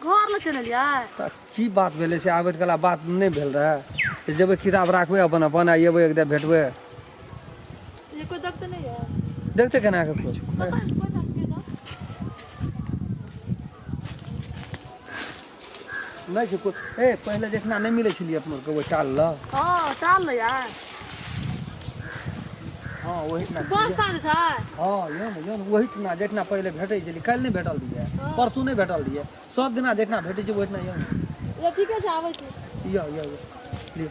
घर लग चलि एलियै तऽ की बात भेलै से आबैत कला बात नहि भेल रहए तऽ जेबै किताब राखबै अपन अपन आ अयबै एकदा भेटबै ये कोई दग तऽ नहि यऽ देखतै केना कऽ कोइ पता नहि कोई बात के दग नहि छै कोइ ए पहिले जखना नहि मिलै छलियै अपना आरके ओ चाल लऽ हँ चाल लऽ यार हँ ओहिठिना छी बस स्टैंड छै हँ यौ ने यौ ने ओहिठिना जहिना पहिले भेटै छलै काल्हि नहि भेटल रहियै हँ परसू नहि भेटल रहियै सब दिना जहिना भेटै छै ओहिना यौ ने य ठीके छै आबै छी यौ यौ यौ लिअ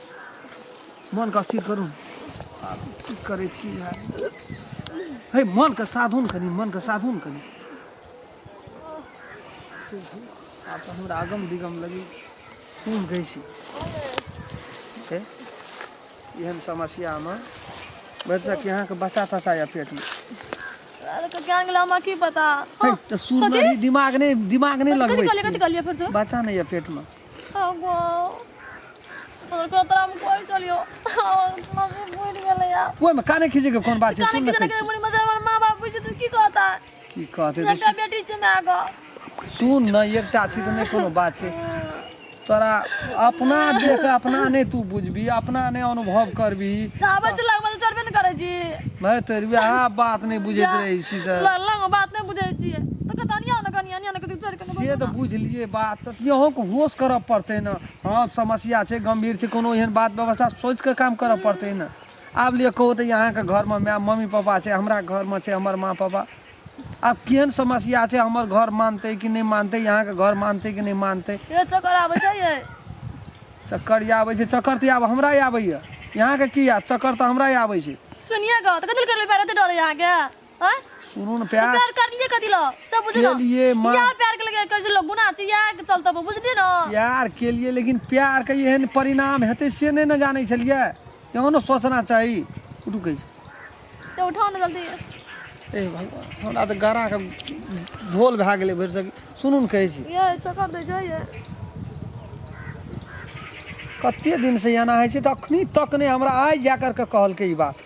मोनके अस्थिर करू आब की करै की भए हे मोनके साधू ने कनी मोनके साधू ने कनी आब तऽ हमरा अगम दिगम लगी खून गई छी एहन समस्यामे भरिसँ कि अहाँके बच्चा तच्चा यऽ पेटमे की पता तो सूर में दिमाग नहीं दिमाग नहीं लगबे बच्चा नहीं है पेट में ओहिमे काने खींचे के कोन बात छै सुन ना कहै छी। की कहते तऽ सुन ना एकटा छी तऽ नहि कोनो बात छै तोरा अपना देख अपना नहि तू बुझबी अपना नहि अनुभव करबी भाय तोर वएह बात नहि बुझैत रहै छी तऽ बात नहि बुझै छियै तऽ कतनिया ने कनिया ने कतौ चढ़ से तऽ बुझलियै बात तऽ अहूँके होश करऽ पड़तै ने हँ समस्या छै गम्भीर छै कोनो एहन बात व्यवस्था सोचि कऽ काम करऽ पड़तै ने आब लिअ कहू तऽ अहाँके घरमे माय मम्मी पापा छै हमरा घरमे छै हमर माँ पापा आब केहन समस्या छै हमर घर मानतै कि नहि मानतै यहाँके घर मानतै कि नहि मानतै चक्कर आबै छै चक्कर आबै छै चक्कर तऽ आब हमरा आबैया यहाँके की आब चक्कर तऽ हमरा आबै छै सुनिए गऽ तऽ कथी लए करबै पैर एते डरै अहाँके हैं? सुनू ने तो प्यार प्यार कर लिए कथी लो सब बुझ के लो लिए माँ या प्यार के लगे कैसे लोग गुना छी या के चलता बुझ लिए ना प्यार के लिए लेकिन प्यार के एहन परिणाम हेतै से नहि ने जानै छलियै इहो ने सोचना चाही उठू कहै छै तो उठाओ ना जल्दी ए भगवान हमरा तऽ गड़ा के धोल भए गेलै भरि सक सुनू ने कहै छी ये चक्कर दे जाइए कते दिनसँ एना होइ छै तऽ अखनी तक नहि हमरा आइ जा करके कहलकै ई बात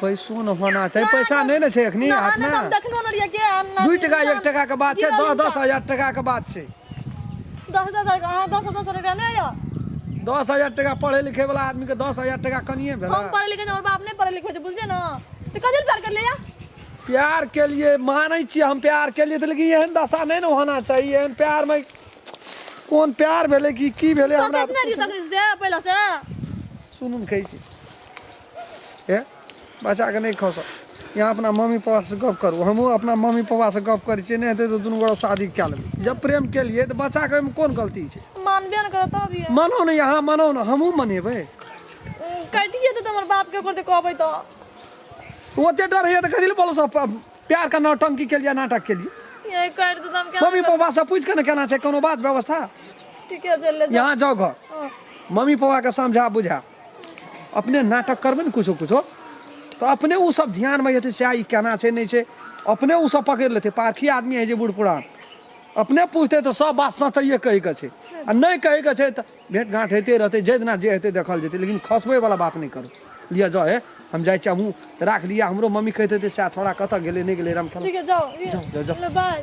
पैसो ने होना चाही पैसा नहि ने छै एखनी हाथमे दू टका एक टका के बात छै दस दस हजार टका के बात छै दस हजार टका पढ़े लिखे वाला आदमी के दस हजार टका कनिए भेल हम पढ़े लिखे और बाप नहीं पढ़े लिखे छै बुझलिए ना तो कथी प्यार कर लिया प्यार के लिए मानै छी हम प्यार के लिए लेकिन एहन दशा नहीं ने होना चाहिए एहन प्यार में कौन प्यार भेले कि की भेले हमरा पहले से सुनू कहै छी हे बच्चाके नहि खसऽ यहाँ अपना मम्मी पापासँ गप करू हमहूँ अपना मम्मी पापासँ गप करै छियै नहि हेतै तऽ दुनू गोरा शादी कए लेबै जब प्रेम केलियै तऽ बच्चाके ओहिमे कोन गलती छै मानबे ने करत तब ये मनो ने यहाँ मनो ने हमहूँ मनेबै कटिए देतै हमर बापके ओकर तऽ कहबै तऽ ओते डर होइए तऽ कथी लए बोलो सब प्यारके नौटंकी केलियै नाटक केलियै ये काटि देतै हम केना मम्मी पापासँ पूछि कऽ ने केना छै कोनो बात व्यवस्था ठीके चलि ले यहाँ जाओ घर मम्मी पापाके समझा बुझा अपने नाटक करबै ने किछो किछो तऽ अपने ओसभ ध्यानमे जेतै सएह ई केना छै नहि छै अपने ओसभ पकड़ि लेतै पारखी आदमी होइ छै बूढ़ पुरान अपने पूछतै तऽ सभ बात सचैए कहैके छै आ नहि कहैके छै तऽ भेँट घाँट होइते रहतै जाहि दिना जे हेतै देखल जेतै लेकिन खसबैवला बात नहि करू लिअ जाउ हे हम जाइ छी हमहूँ राख लिअ हमरो मम्मी कहैत हेतै सएह छोड़ा कतऽ गेलै नहि गेलै राम ठीक है जाओ ये- जाओ, जाओ। लो, बाय